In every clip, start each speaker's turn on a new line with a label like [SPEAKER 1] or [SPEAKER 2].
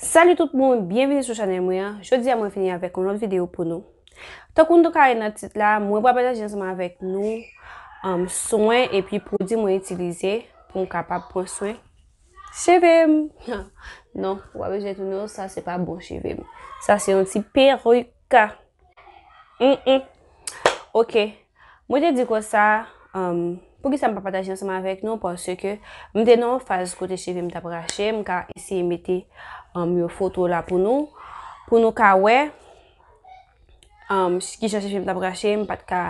[SPEAKER 1] Salut tout moun, byenvini sou chanèl mwen an, jodi a mwen vini avèk yon lòt videyo pou nou. Tankou nou ka wè nan tit la, mwen pral pataje ansanm avèk nou um, swen epi pwodwi mwen itilize pou m kapab pran swen cheve m. non, ou pa bezwen tounen yo, sa se pa bon cheve m. Sa se yon ti peruk. Mm, mm. Ok, Mwen te di konsa, Humm, poukisa m pa pataje ansanm avèk nou? Paske m te nan yon faz kote cheve m t ap rache. M ka eseye mete yon foto la pou nou, pou nou ka wè ki jan cheve m t ap rache. M pa t ka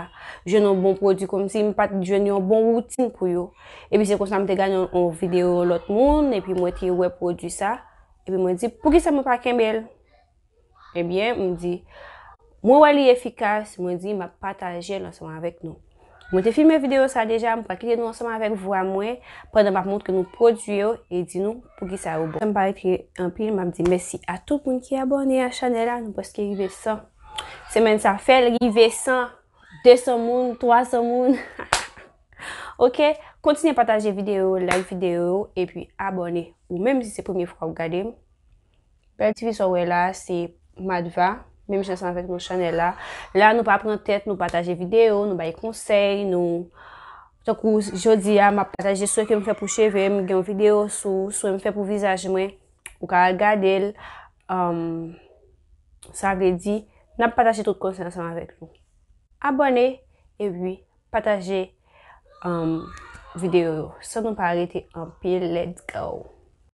[SPEAKER 1] jwenn yon bon pwodui, kòmsi m pa t jwenn yon bon woutin pou yo. Epi se konsa m te gade yon videyo yon lòt moun, epi mwen te wè pwodui sa. Epi mwen di, poukisa mwen pa kenbe l? Ebyen, m di, Mwen wè li efikas, mwen di m ap pataje l ansanm avèk nou. Mwen te filme videyo sa deja, m pral kite nou ansanm avèk vwa mwen pandan m ap montre nou pwodui yo e di nou poukisa yo bon. M pa retire anpil, m ap di mèsi a tout moun ki abòne a chanèl la, nou prèske rive 100. Semèn sa fè l rive 100, 200 moun, 300 moun. Ok, kontinye pataje videyo yo, like videyo yo, epi abòne ou menm si se premye fwa ou gade m. Bèl ti fi sa w wè la se Madva, menm jan san avèk nou chanèl la. La nou pa pran tèt, nou pataje videyo, nou bay konsèy, nou... Tankou jodi a, m ap pataje swen ke m fè pou cheve m, gen yon videyo sou swen m fè pou vizaj mwen, ou ka al gade l. Sa vle di, n ap pataje tout konsèy ansanm avèk nou. Abòne, epi pataje videyo yo. San nou pa rete anpil, let's go!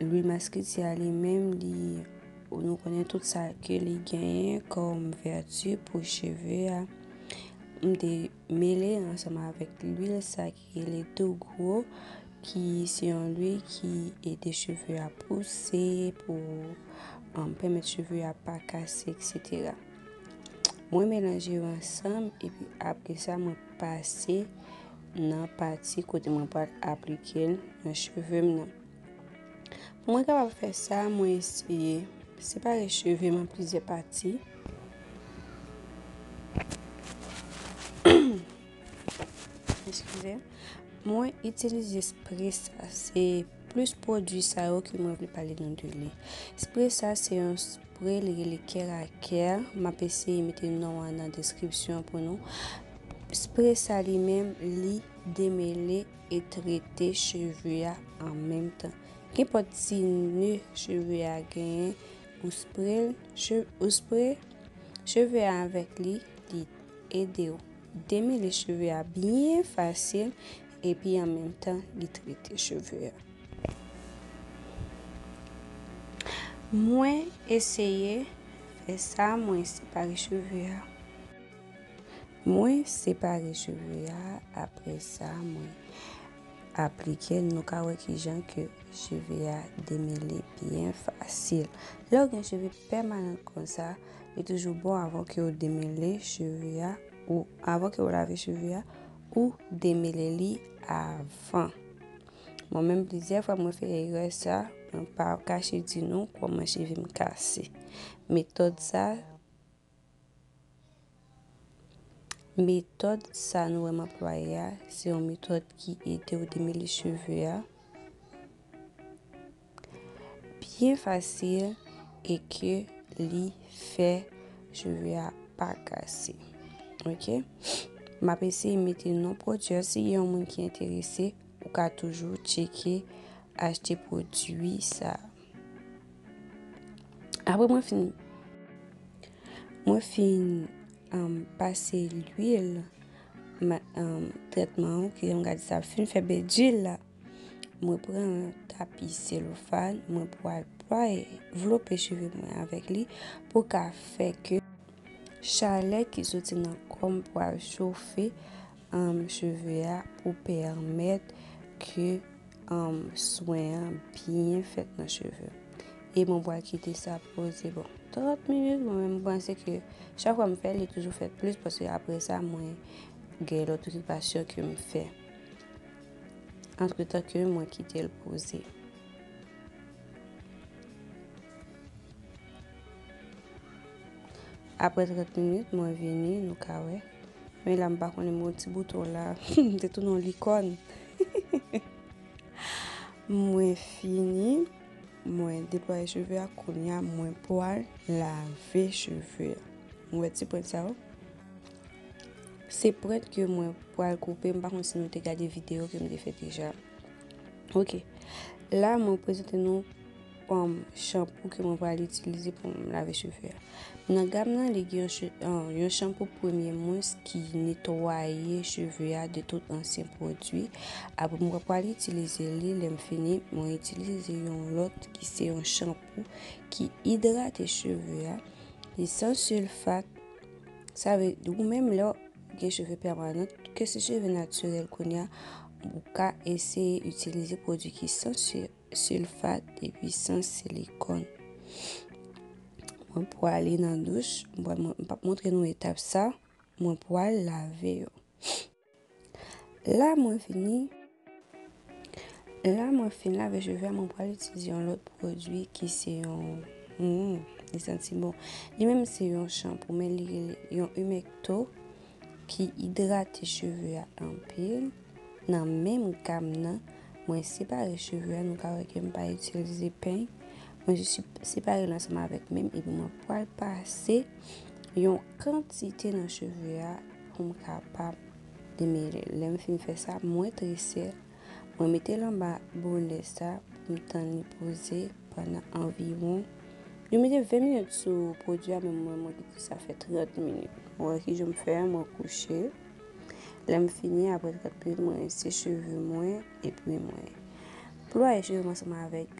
[SPEAKER 1] Louis Masquitia li menm li nou konnen tout sa ke li genyen kom vertu pou cheve a. M te mele ansanm avèk lwil sa ki rele tou gwo ki se yon lwi ki ede cheve a pouse pou an pèmèt cheve a pa kase etc. Mwen melanje yo ansanm epi apre sa mwen pase nan pati kote mwen pral aplike l nan cheve m nan. Pou mwen kapab fè sa, mwen eseye separe cheve m an plizyè pati. Mwen itilize spre sa, se plis pwodwi sa yo ke mwen vle pale nan de li. Spre sa se yon... Pre li rele care a care map eseye mete non an nan deskripsyon pou nou spre sa li menm li demele e trete cheve a an menm tan kenpòt ti ne cheve a genyen ou spre l ou spre cheve a avèk li li edew demele cheve a byen fasil Epi an menm tan li trete cheve a. Mwen eseye fè sa mwen separe cheve a. Mwen separe cheve a apre sa mwen aplike l nou ka wè kijan ke cheve a demele byen fasil. Lè ou gen cheve pèmanan konsa li toujou bon avan ke ou demele cheve a ou avan ke ou lave cheve a Ou demele li avan. Mwen menm plizyè fwa mwen fè erè sa, mwen pa kache di nou kòman cheve m kase. Metòd sa, metòd sa nou wè m anplwaye a, se yon metòd ki ede ou demele cheve a. Byen fasil e ke li fè cheve a pa kase. Ok. M ap eseye mete non pwodui an. Si gen yon moun ki enterese, ou ka toujou tcheke achte pwodui sa. Apre mwen fin, mwen fin um, pase lwil, um, tretman an, ki m gade sa fin fè bel djil la. Mwen pran yon tapi selofan, mwen pwal pwal vlope cheve mwen avèk li pou ka fè ke chalè ki soti nan kòm pwal chofe um, cheve a pou pèmèt ke um, swen an byen fèt nan cheve. E mwen pwal kite sa poze bon 30 minit, mwen menm panse ke chak fwa m fè li toujou fèt plis paske apre sa mwen gen lòt okipasyon ke m fè. Antre tan ke mwen kite l poze. Apre 30 minit mwen vini nou ka wè. Men la m pa konnen mwen ti bouton la. M te tou non likòn. Mwen fini. Mwen deploye cheve a konya mwen pwal lave cheve. Mwen ti pwent sa ou. Se prent ke mwen pral koupe, m pa konn si nou te gade video ke m te fè deja. Ok, la mwen prezante nou um, shampoo ke mwen pral itilize pou m lave cheve. Nan gam nan li gen um, yon shampoo premye mwens ki netwaye cheve a de tout ansyen pwodwi. Apre mwen pral itilize li, lè m fini, mwen itilize yon lòt ki se yon shampoo ki idrate cheve a, li san sulfat, Sa vle di ou menm lè gen cheve pèmanant, ke se cheve natirèl konya, ou ka eseye itilize pwodwi ki san silfat epi san silikon. Mwen pou ale nan douch, mwen pa montre nou etap sa, mwen pou al lave yo. La mwen fini La mwen fin lave cheve a mwen pral itilize yon lòt pwodui ki se yon mm, li santi bon. Li menm se yon shampoo men li rele yon humecto ki idrate cheve a anpil. Nan menm gam nan, mwen separe cheve a nou ka wè ke m pa itilize peny. Mwen jis separe l ansanm avèk menm epi mwen pral pase yon kantite nan cheve a. pou m kapab demele l. Lè m fin fè sa, m retrese l, mwen mete l anba bonè sa pou m tann li poze pandan anviwon, yo mete 20 minit sou pwodui a men mwen mwen kite sa fè 30 minit. Ou wè kijan m fè, mwen kouche, lè m fini aprè 30 minit mwen rinse cheve mwen epi mwen plwaye cheve m ansanm avèk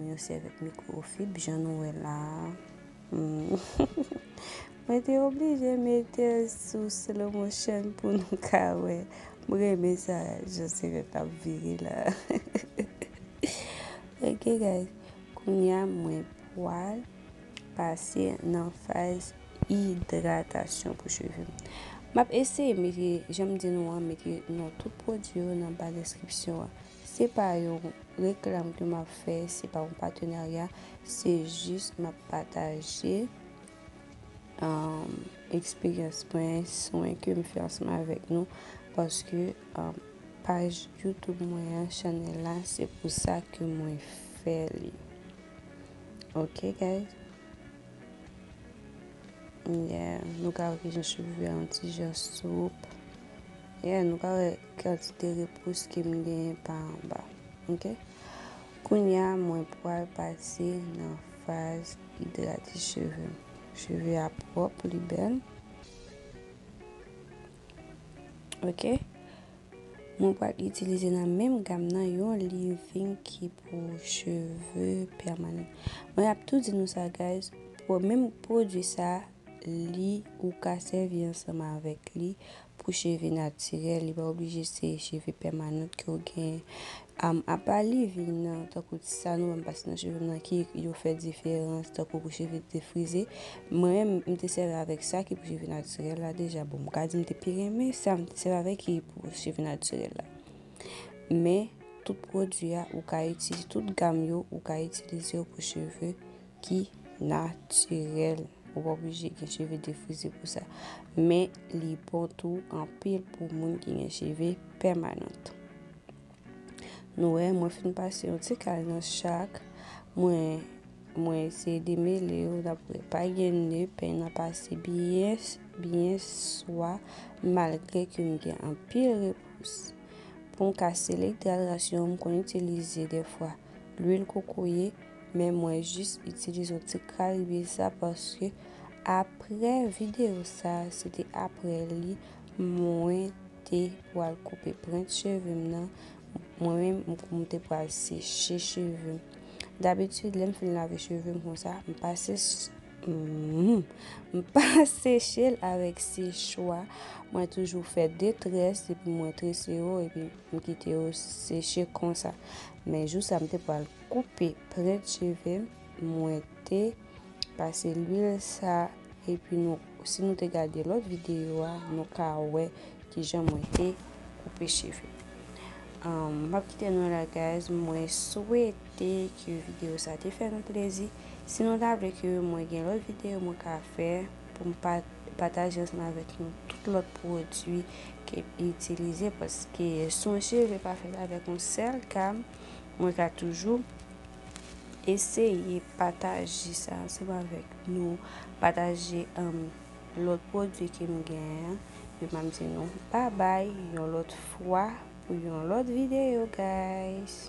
[SPEAKER 1] yon sèvyèt mikwofib jan nou wè la a. Mwen te oblije metel sou slow motion pou nou ka wè. M renmen sa jan sirèt la ap vire la. Ok guys, kounya mwen pwal pase nan faz idratasyon pou cheve m. Map eseye mete, janm di nou an, mete non tout pwodwi yo nan ba deskripsyon an. Se pa yon reklam ke map fè, se pa yon patenarya, se jis map pataje eksperyans mwen, swen kem fè ansanm avèk nou, paske paj YouTube mwen an, chanèl la, se pou sa ke mwen fè li. Ok guys. Yeah, nou ka wè kijan cheve a yon ti jan soup. Yeah, nou ka wè. Kantite repous ke m genyen pa anba. Ok. Kounye a mwen pwal pase nan faz idrate cheve m. Cheve a pwòp, li bèl. Ok. Mwen pwal itilize nan menm gam nan yon leave-in ki pou cheve pèmanan. Mwen ap tou di nou sa guys, menm pwodui sa li ou ka sèvi ansanm avèk li pou cheve natirèl li pa oblije se cheve pèmanant ke ou genyen apa leave-in nan tankou ti sa nou wè m pase nan cheve m nan ki yo fè diferans tankou pou cheve ki te frize mwen m te sèvi avèk sa ki pou cheve natirèl la deja bon m ka di m te pi renmen sa m te sèvi avèk ki pou cheve natirèl la men tout pwodwi a ou ka itilize tout gam yo ou ka itilize yo pou cheve ki natirèl. Ou pa oblije gen cheve defrize pou sa. Men li bon tou anpil pou moun ki gen cheve pèmanant. Nou wè, mwen fin pase yon ti kal nan chak. Mwen, mwen eseye demele yo dapre pa gen ne, peny nan pase byen, byen swa, malgre ke m gen anpil repous. Pou m ka selekte alyasyon m konn itilize defwa lwil kokoye, Men mwen jis itilize yon ti kal lwil sa paske apre video sa se te apre li mwen te pral koupe prent cheve m nan mwen menm mwen te pral seche cheve m dabitid lè m fin lave cheve m konsa m pa seche m pa seche l avèk sechwa mwen toujou fè de tres epi mwen trese yo epi m kite yo seche konsa men jou sa m te pral koupe prent cheve mwen te pase lwil sa epi nou si nou te gade lòt videyo a nou ka wè kijan mwen te koupe cheve m pap kite nou la guys mwen swete ke videyo sa te fè nou plezi si nou ta vle ke mwen gen lòt videyo mwen ka fè pou m pataje ansanm avèk nou tout lòt pwodwi ke m itilize paske swen cheve pa fèt avèk yon sèl gam Mwen ka toujou eseye pataje sa ansanm avèk nou, pataje lòt pwodui ke m gen an, epi map di nou babay yon lòt fwa pou yon lòt videyo guys.